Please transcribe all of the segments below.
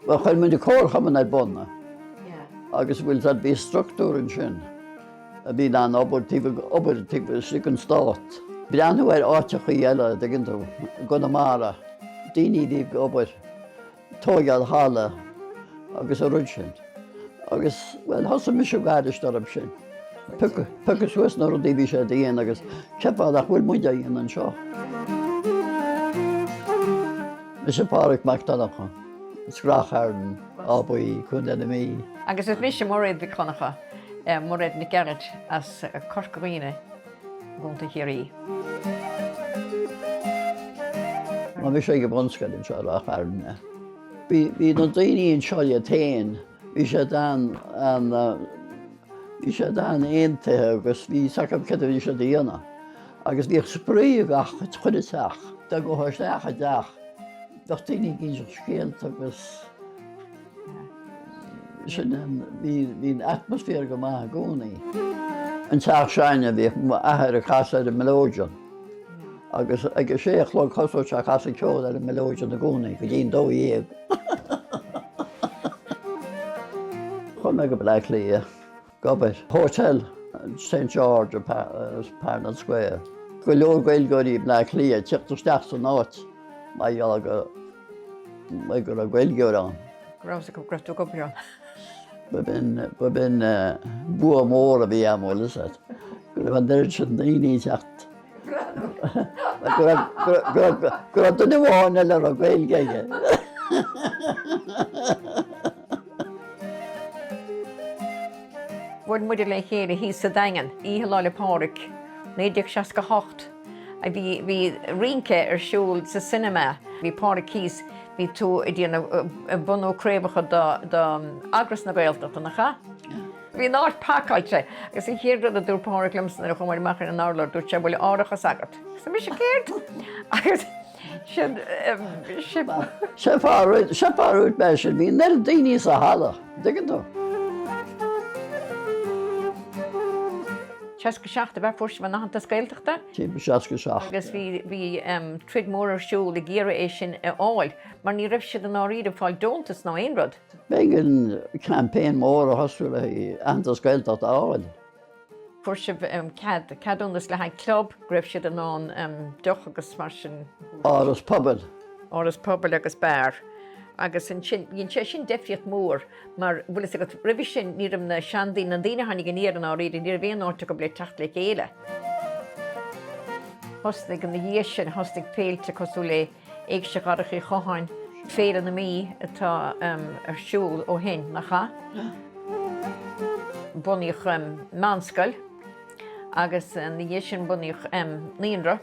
Bhuel, chuir muid an comharchumann ar bun agus bhuel, sea, bhí structúr ansin a bhí in ann obair taobh obair taobh istigh den stát. Breathnú ar áiteachaí eile, a dtuigeann tú, i gConamara, daoine a bhí ag obair, tóigeáil halla agus an rud sin. Agus, bhuel, thosaigh mise ag éirí tógtha leis sin. Piocadh suas na rudaí a bhí siad a dhéanamh agus cén fáth nach bhfuil muide a dhéanamh anseo. Mise Pádraig Mac Donncha, as Ráth Chairn, Áth Buí, Contae na Mí. Agus is mise Mairéad Mhic Dhonncha, Mairéad Nic Gearailt, as Corca Dhuibhne, Contae Chiarraí. Chuaigh mise go bunscoil anseo i Ráth Chairn. Bhí na daoine anseo le chéile. Bhí siad an, an, bhí siad an-aontaithe agus bhí fhios agam céard a bhí siad a dhéanamh. Agus bhíodh spraoi i gach, i chuile teach. Dá ngabhfá isteach i dteach, bheadh daoine ag inseacht scéalta agus sin an, bhí, bhí an atmaisféar go maith i gcónaí. An teach s'againne bhíodh m'athair ag casadh ar an melodeon. Agus ag sé a chlog thosódh sé ag casadh ceoil ar an mileoidean i gcónaí go dtí an dó dhéag. Chuaigh mé go Bleá Cliath ag obair. Hotel St George Parnell Square. Go leor Gaeilgeoirí Bleá Cliath teacht isteach san áit mar gheall go mbeidh go raibh Gaeilgeoir ann. Go raibh go raibh tú ag obair ann. B'in bua mór a bhí ann, bhfuil fhios agat, go raibh an oiread sin daoine ag teacht. Go raibh duine amháin eile a raibh Gaeilge aige. Bhuail muide le chéile thíos sa Daingean, Oíche Lá 'le Pádraig, 1968. Bhí rince ar siúl sa cinema. Bhí Pádraig thíos, bhí tú ag déanamh, bunú craobhacha do Eagras na Gaeltachta, nach ea? Bhí an áit pacáilte. Agus an chéad rud a dúirt Pádraig liomsa nuair a chuamar amach ar an urlár, dúirt sé, bhfuil árachas agat? Arsa mise, céard? Agus. Sé a dúirt mé sin, bhí an oiread daoine sa halla, an dtuigeann tú. 67 a bheith fuair sibh an tAitheantas Gaeltachta. Timpeall 67. Agus bhí bhí troid mhór ar siúl ag iarraidh é sin a fháil mar ní raibh siad i ndáiríre ag fáil deontas ná aon rud. B'éigean campaign mór a thosú le Aitheantas Gaeltachta a fháil. fuair sibh cead, ceadúnas le haghaidh club, go raibh sibh in ann deoch agus mar sin. Áras pobail. Áras pobail agus beár. Agus ansin, dhein sé sin deifríocht mhór mar, bhfuil fhios agat, roimhe sin ní raibh na seandaoine, na daoine a tháinig aniar i ndáiríre, ní raibh aon áit acu le teacht le chéile. Thosnaigh, ina dhiaidh sin, thosnaigh féilte cosúil le. Éigse Dharach Uí Chatháin, Féile na Mí atá ar siúl ó shin, nach ea? Bunaíodh meánscoil agus ina dhiaidh sin bunaíodh naíonra.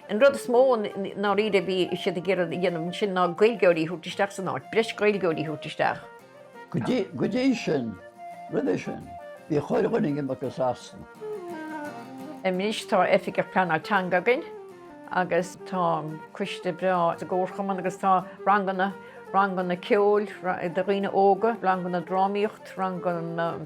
An rud is mó i ndáiríre a bhí siad ag iarraidh a dhéanamh ansin ná Gaeilgeoirí a thabhairt isteach san áit, breis Gaeilgeoirí a thabhairt isteach. Go dtí sin, roimhe sin, bhí chuile dhuine ag imeacht go Sasana. Anois tá Oifigeach Pleanála Teanga againn agus tá coiste breá sa gComharchumann agus tá ranganna, ranganna ceoil do dhaoine óga, ranganna drámaíocht, ranganna.